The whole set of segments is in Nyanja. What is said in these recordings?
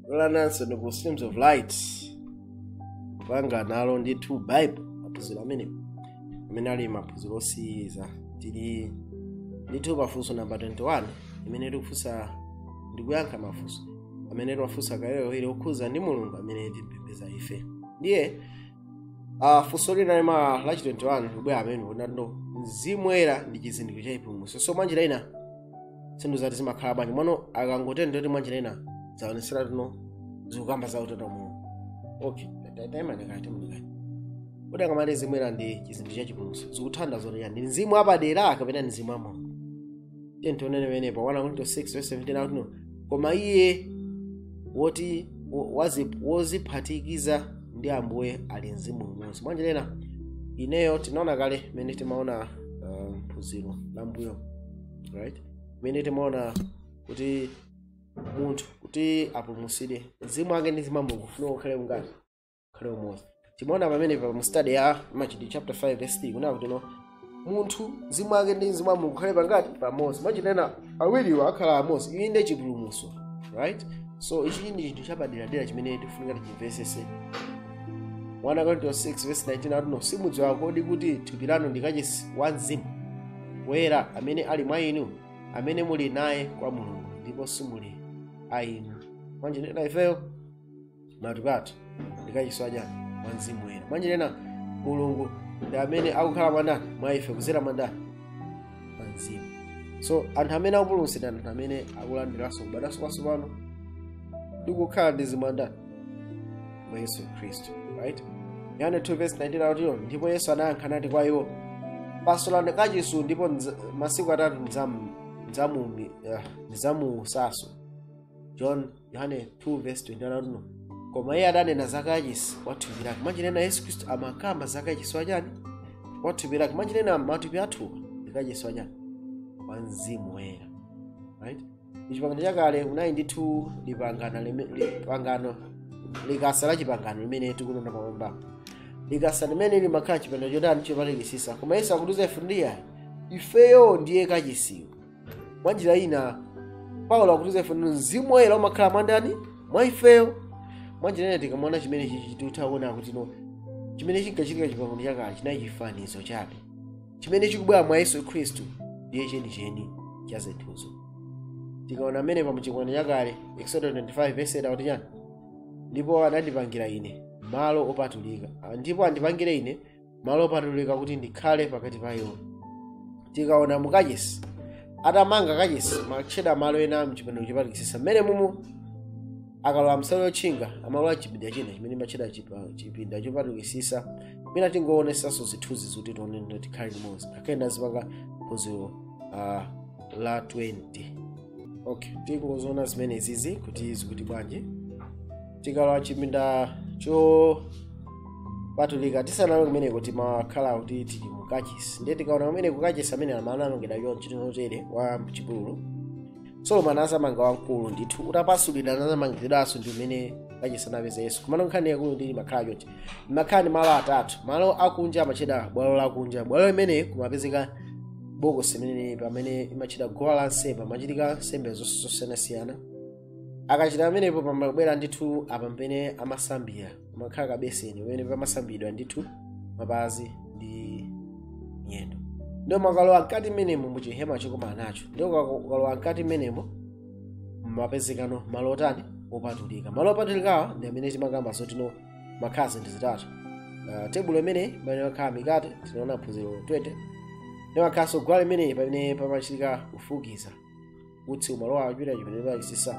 kulananso ndi ku streams of light kupanga nawo ndithu bible maphunziro amenewo amene ali maphunziro osiyiriza tili ndithu pafunso namba 21 imene tikufunsa ndi kuyankha mafunso amene timafunsa kawirikawiri okhuza ndi mulungu amene timpembedza ife ndiye uh, funso lina limene la 21 likubwera amene akunena kuti mzimu woyera ndi chizindikiro cha chipulumutso so mwanjira ina zinthu zati zimakhala bwanji mwano akangotero ndi kuti mwanjira ina zaonesera tino zikukamba za utatu mulungu okay taimani kaye ndikati kodi akamati mzimu woyera ndi chizindikiro cha chipulumutso zikutanthauza zoti chiyani ndi mzimu wapadera kapena ndi mzimu wa mulungu tiyeni tione penapake pa 1 korinto 6 verse 17 akuti koma iye woti wo- wazi- woziphatikiza ndi ambuye ali mzimu umodzi mwanjira ina ifeyo tinaona kale mmene timaona uh, mphunziro la m'mbuyo right mmene timaona kuti munthu kuti apulumutsidwe mzimu wake ndi mzimu wa mulungu ufunika ukhale bwanji ukhale umodzi timaona pamene pa mu study ya machitidwe chapter 5 verse 3 kunena kuti no munthu mzimu wake ndi mzimu wa mulungu ukhale pangati pamodzi mwanjira ina awiriwo akhala amodzi ichi ndiye chipulumutso right so ichi ndi chinthu chapaderadera chimene tifunika tichimvetsetse 1 Korinto 6 verse 19 akuti no simudziwa kodi kuti thupi lanu ndi kachisi wa mzimu woyera amene ali mwa inu amene muli naye kwa mulungu ndipo simuli a inu mwanjira ina ifeyo matupi athu ndi kachisi wa chani wa mzimu woyera mwanjira ina mulungu ndi amene akukhala mwa ndani mwa ife kudzera mwa ndani mwa mzimu so anthu amene akupulumutsidwa ndi anthu amene akulandiranso kubadwanso kwatsopano ndi kukhala ndi mzimu wa ndani wa yesu khristu right yohane 2 verse 19 akuti no ndipo yesu anayankha nati kwa iwo pasulani kachisi ndipo ndidza- masiku atatu ndidzamu- ndidzamu- eh, ndidzamuutsanso john yohane 2 verse 21 akuti no koma iye adanena za kachisi wa thupi lake mwanjira ina yesu khristu amakamba za kachisi wachani wa thupi lake mwanjira ina matupi athuwa ndi kachisi wachani wa mzimu woyera right chipangano chakale kunali ndithu lipangano lime- lipangano likasa la chipangano limene tikunena pamwambamo likasa limene limakhala mchipinda chotani chopatulikitsa koma yesu akutiuza ife ndiye ifeyo ndiye kachisiyo mwa njira ina paulo akutiuza ife kuti mzimu woyera umakhala mwa ndani mwa ifeyo mwa njira ina tikamaona chimene chichi tikutha kuona kuti no chimene chinkachitika mchipangano chakale chinali chifanizo chabe chimene chikubwera mwa yesu khristu ndiye chenicheni cha zinthuzo tikaona mmene pa mchipangano chakale exodo 25 verse 8 akuti chani ndipo andipangire ine malo opatulika ndipo andipangire ine malo opatulika kuti ndikhale pakati pa iwo tikaona mu kachisi atamanga kachisi amatchedwa malo ena mchipinda chopatulikitsitsa mmene mumu akalowa nsalu yotchinga amalowa chipinda china chimene chimatchedwa chipa- chipinda chopatulikitsitsa mwina tingowonetsanso zithunzi zoti tione kuti tikhale limodzi ngakhale tinazipanga phunziro ah, la 20 okay tikungoziona zimenezizi kuti zikuti bwanji tikalowa chipinda chopatulika tisanalowe kumeneko timakhala kuti tili mu kachisi ndiye tikaona kumeneko kachisi amene anamangidwa chonchi tinotere wa mchipululu solomon anazamanga wamkulu ndithu utapasulidwa anazamangidwanso ndi umene kachisi anapeza yesu komano nkhani yaikulu ndi imakhala chonchi mumakhala ndi malo atatu malo akunja amatchedwa bwalo lakunja bwalo limene kumapezeka bokosi limene pamene imatchedwa guwa la nsembe pamachitika nsembe zonse zosiyanasiyana akachita pamenepo pamabwera ndithu apa pamene amasambira pamakhala kabeseni pamene pamasambidwa ndithu mapazi ndi miyendo ndiye umakalowa mkati mmenemo muchihema chokumanako ndiye ukalowa mkati mmenemo umapezekano malo otani opatulika malo opatulikawa ndi amene timakamba zoti mumakhala zinthu zitatu uh, tebulo imene pamene pamakhala mikate tinaona phunziro 20 ndiye mumakhalanso guwa limene pamene pamachitika kufukiza utsi umalowa achita chimene pachisisa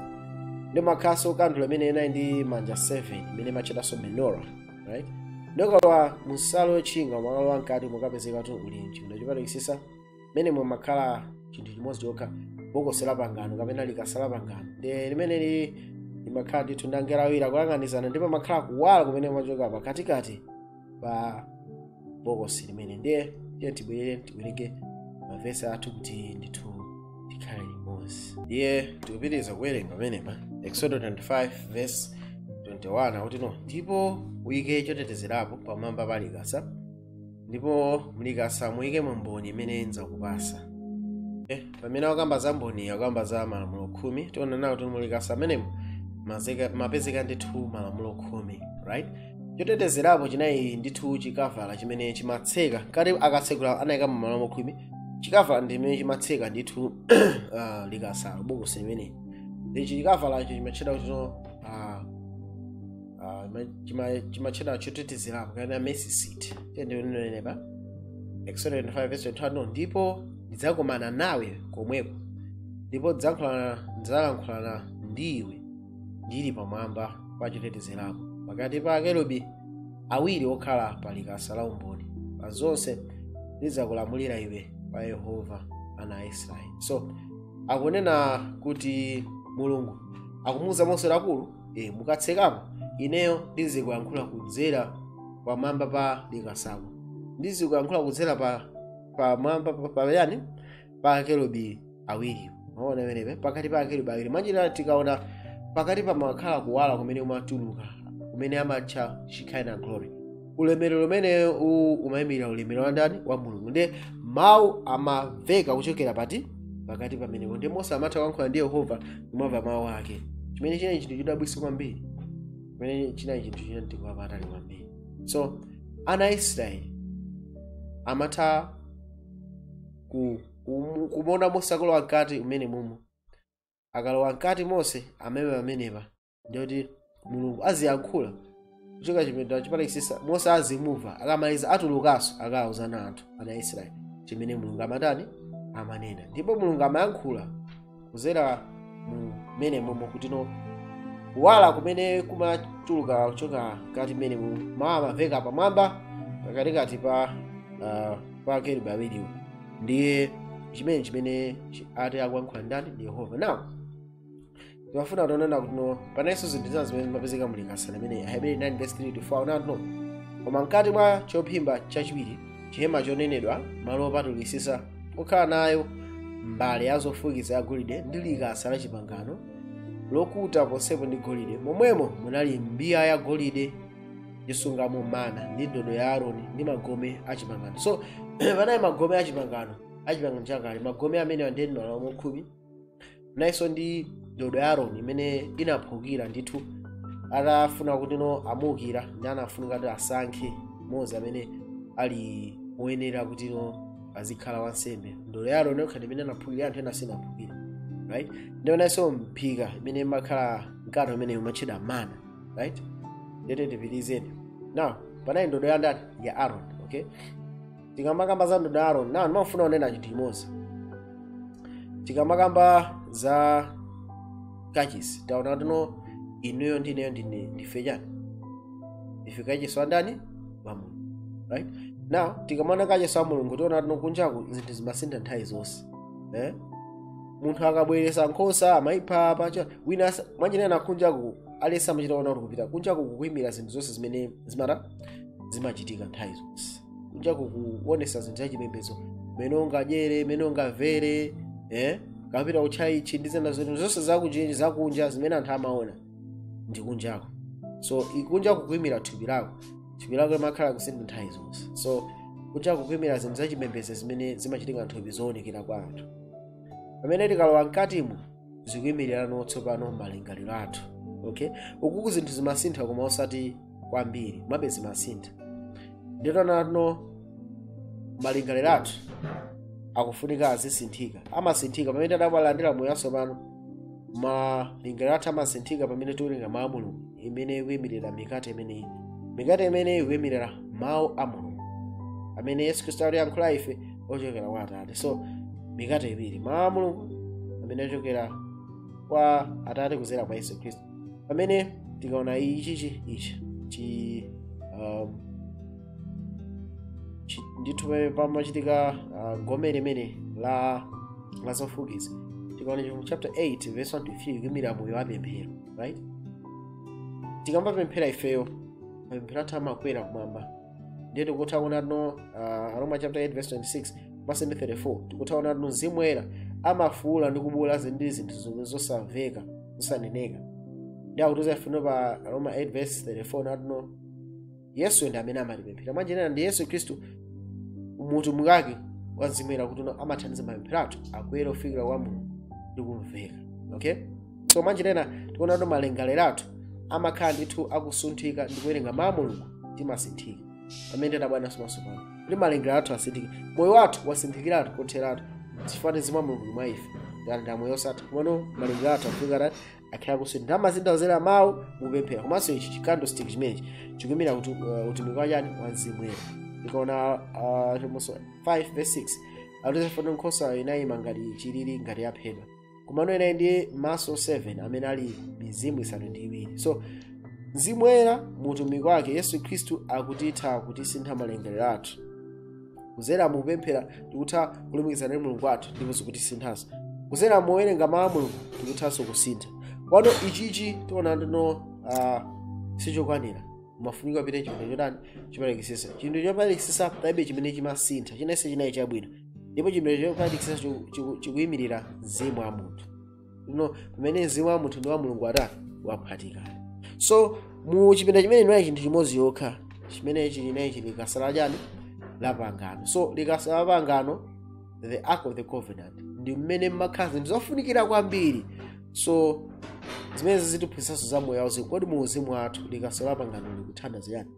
ndiye mumakhalanso kandulo imene inali ndi manja 7 imene imatchedwanso menora right ndiye ukalowa munsalu yotchinga umakalowa mkati umakapezeka kuti uli mchipinda chopatulika mmene mumakhala chinthu chimodzi chokha bokosi la pangano kapena likasa la pangano ndiye limene limakhala ndithu ndi angelo awiri kuyang'anizana ndipo pamakhala kuwala kumene kumachoka pakatikati pa bokosi limene ndiye ndiye tibwerere tiwerenge mavesi athu kuti ndithu tikhale limodzi ndiye tikupitiriza kuwerenga pamenepa exodo 25 verse 21 akuti no ndipo uyike chotetezerapo pamwamba pa likasa ndipo mlikasa uyikemo mboni imene ndidzakupatsa eh, pamene akukamba za mboni akukamba za malamulo khumi tiona nawo kuti mulikasa mmenemo mazeka- mapezeka ndithu malamulo khumi right chotetezerapo chinali ndithu chikavala chimene chimatseka kati akatsegula anayikamo malamulo khumi chikavala ndi chimene chimatseka ndithu uh, likasalo bokosi limeneli ichi chikavalacho chimatchedwa kuti uh, ah, ma- chima- chimatchedwa chotetezerapo kapena mercy seat ndinene pa exodo 25 verse 21 no, ndipo ndidzakomana nawe komweko ndipo ndidzalankhulana ndidzalankhulana ndi iwe ndili pamwamba pa chotetezerapo pakati pa akerubi awiri okhala pa likasa la umboni pa zonse ndidzakulamulira iwe pa yehova ana a israeli so akunena kuti mulungu akumuuza mose akulu e, mukatsekamo ineyo ndizikuyankhula kudzera pamwamba pa likasako ndizikuyankhula kudzera pa pamwamba pa- pa yani pa akerubi awiri mwaona pamenepa pakati pa akerubi awiri mwanjira tikaona pakati pamakhala kuwala kumene kumatuluka kumene amatcha shekinah glory ulemerero umene uwu umayimirira ulemerero wa ndani wa mulungu ndiye mawu amamveka kuchokera pati pakati pamenepo ndiye mose amatha kuyankhula ndi yehova kumamva mawu ake chimene chinali chinthu chodabwitsa kwambiri chimene chinali chinthu cha mtengo wapatali kwambiri so ana a israeli amatha ku- kumu- kumuona mose akalowa mkati umene mumo akalowa mkati mose amaima pamenepa ndi kuti mulungu aziyankhula kuchoka chipinda chopatulikisisa mose azimumva akamaliza atulukanso akawuze anthu ana israeli chimene mulungu amatani amanena ndipo mulungu amayankhula kuzera mmene mumo kuti no kuwala kumene kumatuluka kuchoka mkati mmenemu mawu amamveka pamwamba pakatikati pa uh, pa akerubi awiriwo ndiye chimene chimene chi- ati akuyankhula ndani ndi yehova now ndimafuna tione kuti no panalinso zinthu zina zimene zimapezeka mu likasa limene aheberi 9 verse 3 to 4 unati no koma mkati mwa chophimba chachiwiri chihema chonenedwa malo opatulikisisa okhala nayo mbale ya zofukiza ya golide ndi likasa la chipangano lokuta ponsepo ndi golide momwemo munali mbiya ya golide yosungamo mana ndi ndodo ya aroni ndi magome a chipangano so panali magome a chipangano a chipangano chakale magome amene anali ndi malamulo khumi munalinso ndi ndodo ya aroni imene inaphukira ndithu atafuna kuti no amuukire ndiye anafunika kuti asankhe mmodzi amene ali woyenera kuti no azikhala wansembe ndodo ya aroni yokha imene inaphukira anthu ena sinaphukira right ndipo munalinso mphika imene imakhala mkate umene umatchedwa mana right ndiye tipitirizeni now panali ndodo ya ndani ya aron okay tikamakamba za ndodo ya aroni now ndimafuna kunena chinthu chimodzi tikamakamba za kachisi taona kuti no inuyo ndi ineyo ndine ndife chani ife kachisi wa ndani wa mulungu right now tikamaona kachisi wa mulungu tiona kuti kunjaku zinthu zimasintha nthawi zonse eh? munthu akabweresa nkhosa amaipha apa cha- wina asa- mwanjira ina kunjaku aliyense amachita kuona kuti kupita kunjaku kukuimira zinthu zonse zimene zimata zimachitika nthawi zonse kunja kukuonesa zinthu za chipembedzo mene ungadyere mene ungavere eh? kapita kutchalitchi ndi zina zinthu zonse zakuchinji zakunja zimene anthu amaona ndi kunjako so kunja kukuimira thupi lako thupi lako limakhala kusintha nthawi zonse so kunja kukuimira zinthu za chipembedzo zimene zimachitika nthupi zoonekera kwa anthu pamene tikalowa mkatimo zikuimirirano tsopano malingaliro athu okay ukuku zinthu zimasintha koma osati kwambiri mabe zimasintha ndiye taona no malingaliro athu akufunika azisinthika amasinthika pamene tabadwa talandira moyo watsopano malingaliro athu amasinthika pamene tiwerenga mawu a mulungu imene ikuyimirira mikate imeneyi mikate imeneyi ikuyimirira mawu a mulungu amene yesu khristu akutiyankhula ife ochokera kwa atate so mikate iwiri mawu a mulungu amene ochokera kwa atate kuzera kwa yesu khristu pamene tikaona ichichi ichi chi um, chi- ndithu pamene pamachitika uh, gome limene la la zofukiza tikaona chivumbulutso chapter 8 verse 1 to 3 kuyimirira moyo wa pemphero right tikamapemphera ifeyo mapemphero athu amakwera kumwamba ndiye tikutha kuona kuti no uh, aroma chapter 8 verse 26 manso ndi 34 tikutha kuona kuti no mzimu woyera amafuula ndi kubuula zinthu ndi zinthu zomwe zosamveka zosaneneka ndiye akutiuza ifeyo pa aroma 8 verse 34 nati no yesu ndi amene amatipempherera mwanjira ina ndi yesu khristu mu utumiki wake wa mzimu woyera kuti no amathandiza mapemphero athu akwere kufikira kwa mulungu ndi kumveka okay so mwanjira ina tikuona kuti malingaliro athu amakhala ndithu akusinthika ndi kuwerenga mawu a mulungu timasinthika pamene tidabadwanso mwatsopano kuti malingaliro athu asinthike moyo wathu wasinthikiratu kotheratu chifukwa choti mzimu wa mulungu mwa ife tili ndi moyo osatha komano malingaliro athu afunika akhale akusintha kudzera mawu mupemphera komanso ichi chi candlestick chimenechi chikuimira kuti uh, utumiki wachani wa mzimu woyera tikaona uh, chivumbulutso 5 verse 6 akutiuza kuti no nkhosayo inayima ngati chilili ngati yaphedwa komano inali ndi maso 7 amene ali mizimu isanu ndi iwiri so mzimu woyera mu utumiki wake yesu khristu akutitha kutisintha malingaliro athu kuzera mukupemphera tikutha kulumikizana ndi mulungu wathu ndipo zikutisinthanso kuzera mowerenga mawu a mulungu tikuthanso kusintha komano ichichi tiona kuti no uh, sichokwanira umafunika kupita chipinda chotani chopatulikisisa chinthu chopatulikisisa palibe chimene chimasintha chinachonse chinayi chabwino ndipo chipinda chopatulikisisa chikuyimirira mzimu wa munthu no pamene mzimu wa munthu ndi wa mulungu atani waphatikana so mu chipinda chimene munali chinthu chimodzi yokha chimene chilinayi chili likasa la chani la pangano so likasa la pangano the ark of the covenant ndi mmene mmakhala zinthu zofunikira kwambiri so zimene zitiphunzitsanso za moyo wauzimu kodi mu uzimu wathu likasa la pangano likutanthauza chani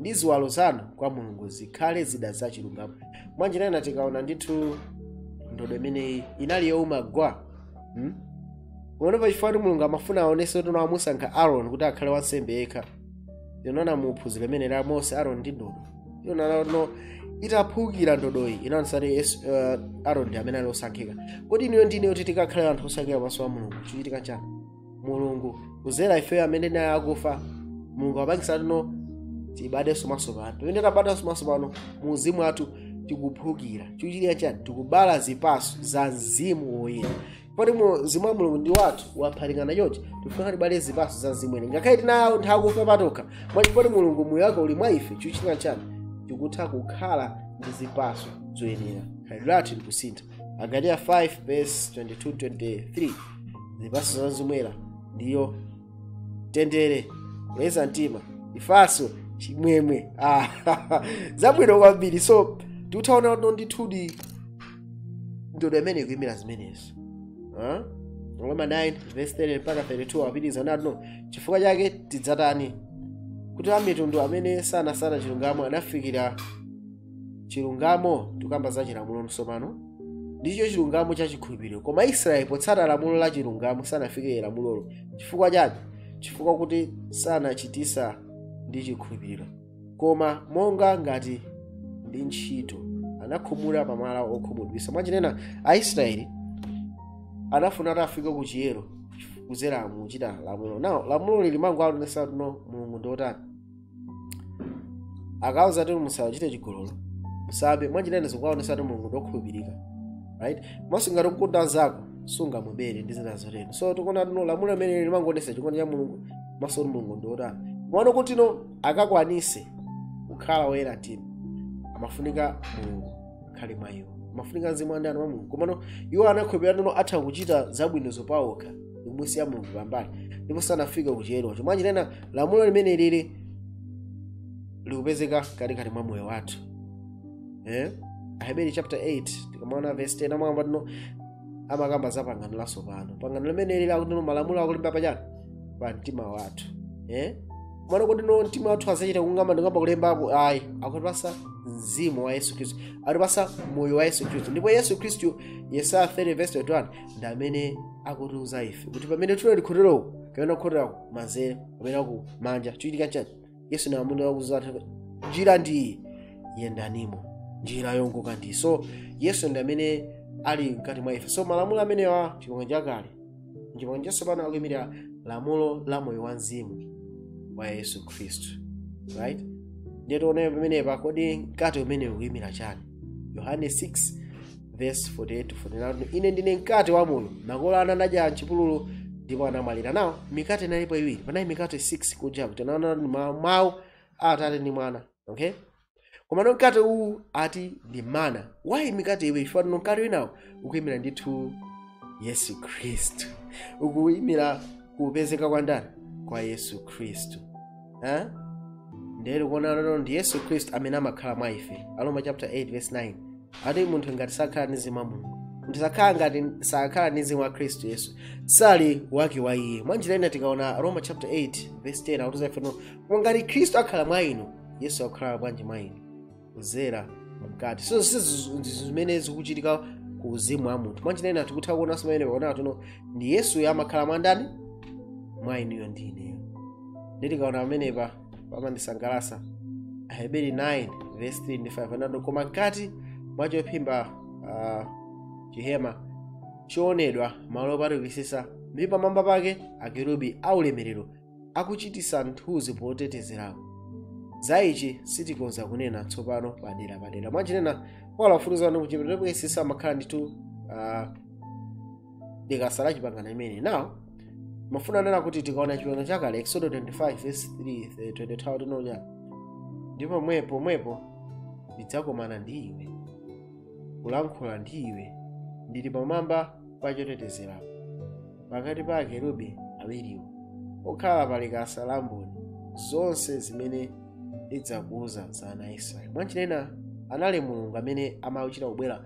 ndi ziwalo zanu kwa mulungu zikhale zida za chilungamo mwanjira ina tikaona ndithu ndodo imeneyi inali youma gwa hmm? komano pachifukwa kuti mulungu amafuna aonese kuti wamusankha aron kuti akhale wansembe yekha tinaona muphunziro limene la mose aron ndi ndodo tinaona no itaphukira ndodoyi inaonesa kuti Yesu- uh, aron ndi amene ali osankhika kodi inuyo ndine kuti tikhale anthu osankhika pamaso pa mulungu chochitika chani mulungu kuzera ifeyo amene tinali akufa mulungu wapangisa kuti no tibadwenso mwasopano pamene tabadwanso mwasopano mu uzimu wathu tikuphukira chikuchitika chani tikubala zipaso za mzimu woyera poti mzimu wa mulungu ndi wathu waphatikana chonchi tifuna tibale zipaso za mzimu woyera ngakhale tinali anthu akufa patokha mwachisomo poti mulungu moyo wake uli mwa ife chikuchitika chani tikutha kukhala ndi zipaso zoyenera khalidwe lathu likusintha agalatiya 5 verse 22 23 zipatso za mzimu woyera ndiyo mtendere kuleza mtima chifatso chimwemwe ah, zabwino kwambiri so tikutha kuona kuti ndithudi ndodo imene ikuyimira zimenezo Ah? roma 9 verse 30 mpaka 32 apitiriza nati no chifukwa chake tidzatani kuti amitundu amene sanasata chilungamo anafikira chilungamo tikukamba za chilamulo tsopano ndicho chilungamo cha chikhulupiriro koma israeli potsata lamulo la chilungamo sanafike lamulolo chifukwa chake chifukwa kuti sanachitsata ndi chikhulupiriro koma monga ngati ndi ntchito anakhumudwa pa mwala okhumudwisa mwanjira ina aisraeli anafuna kuti afike ku chiyero kudzera muchita lamulo nawo lamulo limangowaonesa kuti no mulungu ndiotani akawauza kuti musachite chigololo musabe mwanjira ina zikuwaonesa kuti mulungu ndokhulupirika right komanso ngati ukukonda mnzako sungamubere ndi zina zotero so tikuona kuti no lamulo limene limangoonesa chikondi cha mulungu komanso kuti mulungu ndiotani kumaona kuti no akakwanise kukhala woyera mtima amafunika mulungu akhale mwa iwo amafunika mzimu wa ndani wa mulungu komano iwo anakhulupirira kuti no atha kuchita zabwinozo pawokha ndikumusiya mulungu pambali ndipo sanafika kuchiyero mwanjira ina lamulo limene lili likupezeka katikati mwa moyo wathu eh? aheberi chapter 8 tikamaona verse 10 amanena kuti amakamba za pangano latsopano pangano limene lili akuti malamulo akulemba pachani pa mtima wathu eh? mwaona kuti mtima wathu azachita kung'amba n'kung'amba kulembapo ayi akutipatsa mzimu wa yesu khristu atipatsa moyo wa yesu khristu ndipo yesu khristu yesaya 30 verse 21 ndi amene akutiuza ife kuti pamene tili kukhotera uko kapena kukhotera kumanzere kapena ku manja chikuchitika chani yesu ndi amene akutiuza njira ndi iyi yendanimo njira yongoka ndi so yesu ndi amene ali mkati mwa ife so malamulo amenewa chipangano chakale chipangano chatsopano akuimirira lamulo la moyo wa mzimu wa yesu khristu right ndiye tione pamenepa kodi mkate umenewu ukuimira chani yohane 6 vesi 48 to 49 ine ndine mkate wa moyo makolo anu anadya mchipululu ndipo anamwalira nawo mikate inalipo iwiri panali mikate 6 kuja kutanthauza ndi ma- mawu a atate ndi mwana okay komano mkate uwu ati ndi mana why mikate iwiri chifukwa tino mkate winawo ukuyimira ndithu yesu khristu ukuyimira kupezeka kwa ndani kwa yesu khristu Eh? ndiye tikuona lero ndi yesu khristu amene amakhala mwa ife aroma chapter 8 verse 9 ati munthu ngati sakhala ndi mzimu wa mulungu munthu sakhala ngati sakhala ndi mzimu wa khristu yesu sali wake wa iye mwa njira ina tikaona roma chapter 8 verse 10 akutiuza ife kuti koma ngati khristu akhala mwa inu yesu akukhala bwanji mwa inu kudzera mkati so sizi- ndi zimene zikuchitika ku uzimu wa munthu mwanjira ina tikutha kuonanso pamenepa kuona kuti ndi yesuyo amakhala mwa ndani mwa inuyo ndi ineyo ndiye tikaona pamenepa pamandisangalatsa aheberi 9 verse 3 ndi 5 anati koma mkati mwa chophimba ah, chihema chonenedwa malo opatulikitsitsa ndi pamwamba pake akerubi aulemerero akuchititsa mthunzi potetezerapo za ichi sitikhoza kunena tsopano padera padera mwanjira ina paulo akutiuza kuti kuchipinda choyeretsetsa kumakhala ndithu uh, likasa la chipangano chimene now ndimafuna kunena kuti tikaona chipangano chakale exodo 25 verse 3 22 tiona ndipo pomwepo pomwepo ndidzakomana ndi iwe kulankhula ndi iwe ndili pamwamba pa chotetezerapo pakati pa akerubi awiriwo okhala pa likasa la mboni zonse zimene ndidzakuuza za ana a israeli mwanjira ina anali mulungu amene amachita kubwera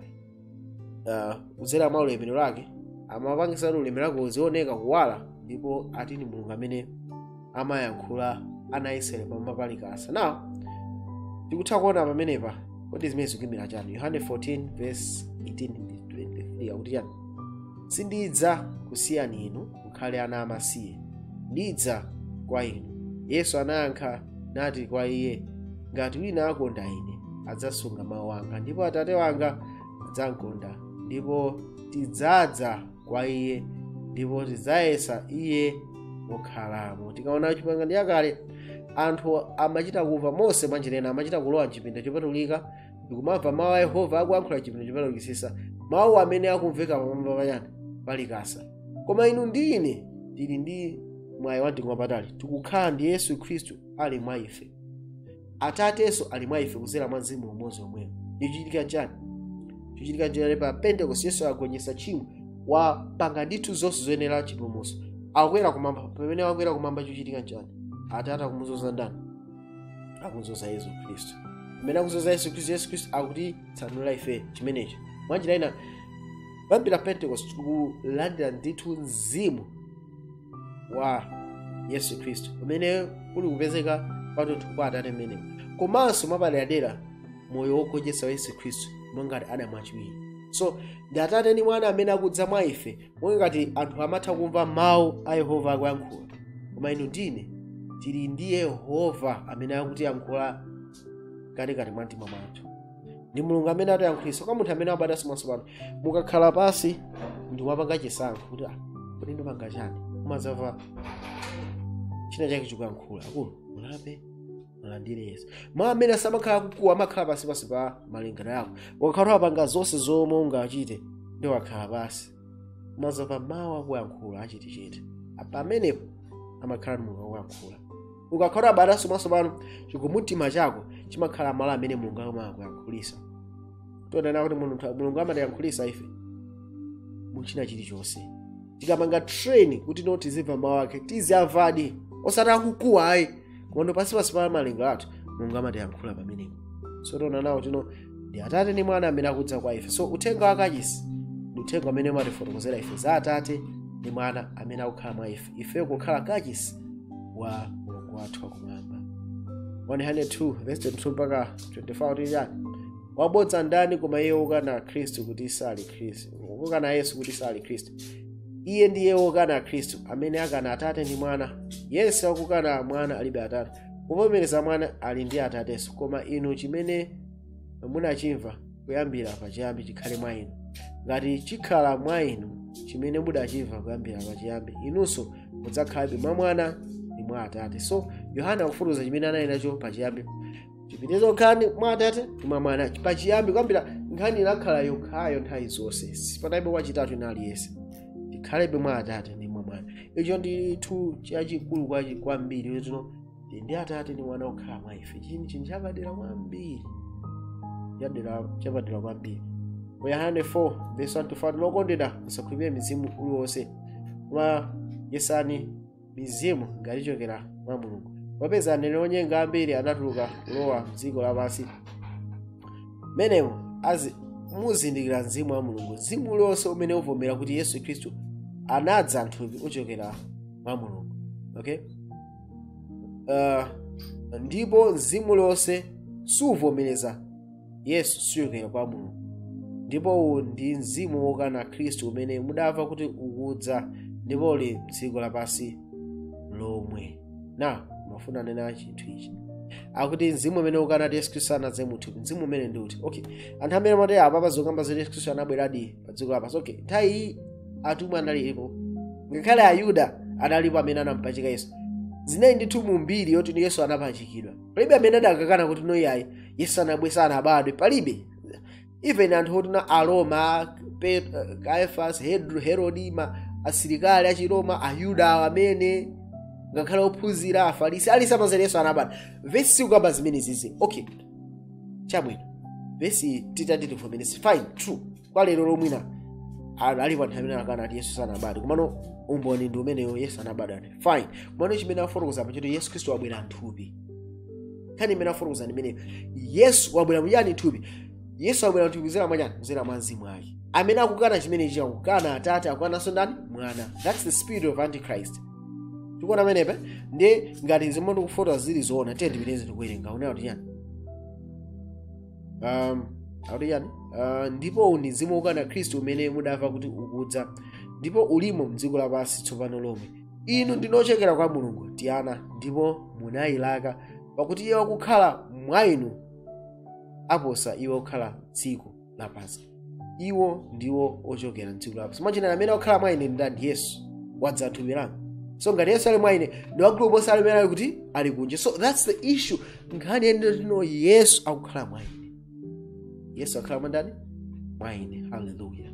uh, kudzera mwa ulemerero wake amapangitsa kuti ulemerero wake uzioneka kuwala ndipo ati ndi mulungu amene amayankhula ana israeli pamwamba pa likasa now tikutha kuona pamenepa kodi zimene zikuimira chani yohane 14 verse 18 ndi 23 akuti chani sindidzakusiyani inu mukhale ana amasiye ndidza kwa inu yesu anayankha nati kwa iye ngati wina akonda ine adzasunga mawu anga ndipo atate wanga adzamkonda ndipo tidzadza kwa iye ndipo tidzayesa iye mokhalamo tikaona chipangano chakale anthu amachita kumva mose mwanjira ina amachita kulowa mchipinda chopatulika ndikumamva mawu a yehova akuyankhula mchipinda chopatulikisisa mawu amene akumveka pamwamba pa chani pa likasa koma inu ndi ine tili ndi mwayi wamtengo wapatali tikukhala ndi yesu khristu ali mwa ife atatenso ali mwa ife kudzera mwa mzimu umodzi omwewo chichitika chani chichitika nchani pa pentekost yesu agonjetsa tchimo wapanga ndithu zonse zoyenera chipulumutso akwera kumwamba pamene wakwera kumwamba chichitika nchani atate akumudzoza ndani akudzoza yesu khristu pamene akudzoza yesu khristu yesu khristu akutitsanula ife chimenecho mwanjira ina kuyambira pentekost tikulandira ndithu mzimu wa yesu khristu umene uli kupezeka kwathunthu kwa atate mmenewo komanso mwapaderadera moyo wogonjetsa wa yesu khristu monga ngati adamu wachiwiri so ndi atate ndi mwana amene akudza mwa ife monga ngati anthu amatha kumva mawu a yehova akuyankhula koma inu ndi ine tili ndi yehova amene akutiyankhula mkatikati mwa mtima mwathu ndi mulungu amene atiyankhulitsa kwa munthu amene wabadwanso mwatsopano mukakhala pansi ndi wapanga chisankho kuti ah kodi ndipanga chani umadzamva china chake chikuyankhula akulu mulape mulandire yesu mawu amene samakhala akukuwa amakhala pansi pansi pa malingaliro yako ukakhala wapanga zonse zomwe ungachite ndi ukakhala pansi umadzamva mawu akuyankhula achetechete pamenepo amakhala mulungu akuyankhula ukakhala wabadwanso mwatsopano chikumbumtima chako chimakhala malo amene mulungu amakuyankhulisa tonena kuti mulungu amatiyankhulisa ife muchina chilichonse tikapanga train kuti no tizimva mawu ake tiziyamvadi osati akukuwa ayi koma pansi pansi pa malingaliro athu mulungu amatiyankhula pamenepo so tiona kuti no ndi atate ndi mwana amene akudza kwa ife so uthenga wa kachisi ndi uthenga amene umatifotokozera ife za atate ndi mwana amene akukhala mwa ife ifeyo kukhala kachisi wa mulungu wathu wakumwamba 1 yohane 2 verse 22 mpaka 24 akuti chani wabodza ndani koma iye wokana khristu kuti sali khristu wokana yesu kuti sali khristu iye ndiye wokana khristu amene akana atate ndi mwana yense wakukana mwana alibe atate wovomereza mwana ali ndi atatenso koma inu chimene munachimva kuyambira pachiyambi chikhale mwa inu ngati chikhala mwa inu chimene mudachimva kuyambira pachiyambi inunso mudzakhalabe mwa mwana ndi mwa atate so yohana akufotokoza chimene anali nacho pachiyambi tipitirize kukhala mwa atate ndi mwa mwana pachiyambi kuyambira nkhani inakhala yokhayo nthawi zonse sipanalibe wachitatu wina aliyense tikhalebe mwa atate ndi mwa mwana icho ndithu chachikulu kwachi kwambiri letino ndi atate ndi mwana okhala mwa ife chini chinthu chapadera kwambiri chadera chapadera kwambiri mu yohane 4 vesi 1 to 5 okondedwa musakhulupirire mzimu uliwonse koma yesani mizimu ngati ichokera mwa mulungu popeza aneneri onyenga ambiri anatuluka kulowa mdziko lapansi mmenemo azi muzindikira mzimu wa mulungu mzimu uliwonse umene uvomera kuti yesu khristu anadza mthupi uchokera mwa mulungu okay uh, ndipo mzimu uliwonse suvomereza yesu suchokera kwa mulungu ndipo uwu ndi mzimu wokana khristu umene mudamva kuti ukudza ndipo uli mdziko lapansi lomwe ndimafuna ndinene chinthu ichi akuti mzimu umene ukana kuti yesu khristu anadza muthupi mzimu umene ndi uti okay anthu amene amati apapa zokamba zoti yesu khristu anabweradi pa dziko lapansi okay nthawi iyi atumwi analipo ngakhale ayuda analipo amene anampachika yesu zinali ndithu mu mbiri yoti yesu anapachikidwa palibe amene adakakana kuti no iyayi yesu anabwe sanabadwe palibe even anthu oti na aroma Pe- uh, caiphas Hed- herodi ma asilikali achiroma ayuda awo amene ngakhale ophunzira afarisi ali samazere yesu anabadwa vesi sikukamba zimenezizi okay chabwino vesi titati tivomereze fine true kwa lero lo mwina ali alipo anthu amene akana ati yesu sanabadwe komano umboni ndi umeneyo yesu anabadwa ati fine komano chimene afotokoza apa choti yesu khristu wabwera mthupi nkhani imene afotokoza ndi imeneyo yesu wabwera muyani mthupi yesu wabwera mthupi kuzera mwachani kuzera mwa mzimu wake amene akukana chimenechi akukana atate akukananso ndani mwana thats the spirit of antichrist tikuona pamenepe ndi ngati zimene ndikufotokoza zili zoona tiye tipitirize tikuwerenga unaona kuti chani um, akuti chani uh, ndipo uwu ndi mzimu wokana khristu umene mudamva kuti ukudza ndipo ulimo mdziko lapansi tsopano lomwe inu ndinu ochokera kwa mulungu tiana ndipo munayilaka pakuti iye wakukhala mwa inu aposa iye wakukhala mdziko lapansi iwo ndiwo ochokera mdziko lapansi mwachina amene akukhala mwa ine ndani yesu wadza mthupi langa so ngati yesu ali mwa ine ndi wamkulu kuposa amene ali kuti ali kunja so thats the issue nkhani yoti no yesu akukhala mwa ine yesu akukhala mwa ndani mwa ine haleluya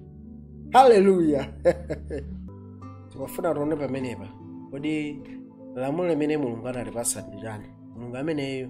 haleluya tikufuna tione pamenepa kodi lamulo limene mulungu anatipasa ndi chani mulungu ameneyo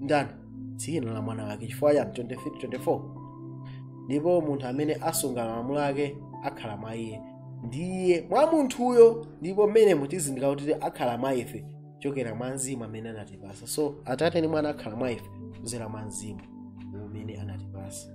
ndani dzina la mwana wake chifukwa chani 23 24 ndipo munthu amene asunga malamulo ake akhala mwa iye ndi iye mwa munthuyo ndipo mmenemo tizindikira kuti akhala mwa ife chokera mwa mzimu amene anatipasa so atate ndi mwana akhala mwa ife kuzera mwa mzimu umene anatipasa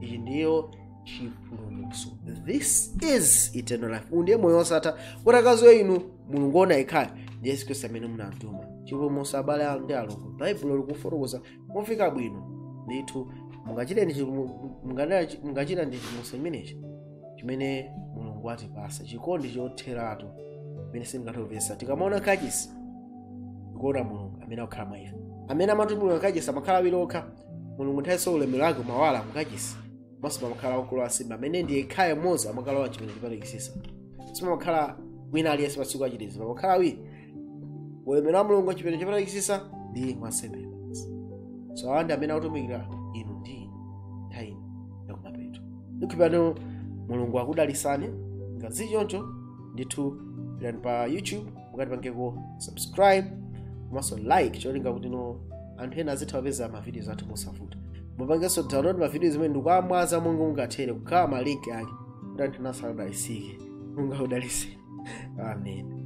ichi ndiyo chipulumutso this is eternal life uwu ndiye moyo wosatha kuti akaziwe inu mulungu woona yekhayo ndi yesu khristu amene munamtuma chipulumutso abale ndi alongo baibulo likufotokoza momveka bwino ndithu mungachita ndi chipu- mungada- mungachita ndi chipulumutso chimenechi chimene mulungu atipasa chikondi chotheratu chimene sitingathe kumvetsa tikamaona kachisi tikuona mulungu amene akukhala mwa ife amene amatumikira kachisi amakhala awiri okha mulungu nthawi so ulemerero wake umawala mukachisi komanso pamakhala wamkulu wansembe amene ndi yekhayo mmodzi amakalowa chipinda chopatulikitsitsa simumakhala wina aliyense patsiku la chitetezo pamakhala awiri ulemerero wa mulungu chipinda chopatulikitsitsa ndi wansembe mmodzi so awa ndi amene akutumikira inu ndi ine nthawi ino yakumapeto ndikhipano mulungu akudalisani ngati zili choncho ndithu pitani pa youtube mukatipangeko subscribe komanso like cholinga kuti no anthu ena azitha kupeza mavidiyo athu mosavuta mupangenso download mavidiyo zimene ndikuamwaza monga mungathere kukhala malinki ake kuti anthu enanso adalisike mulungu akudaliseni amen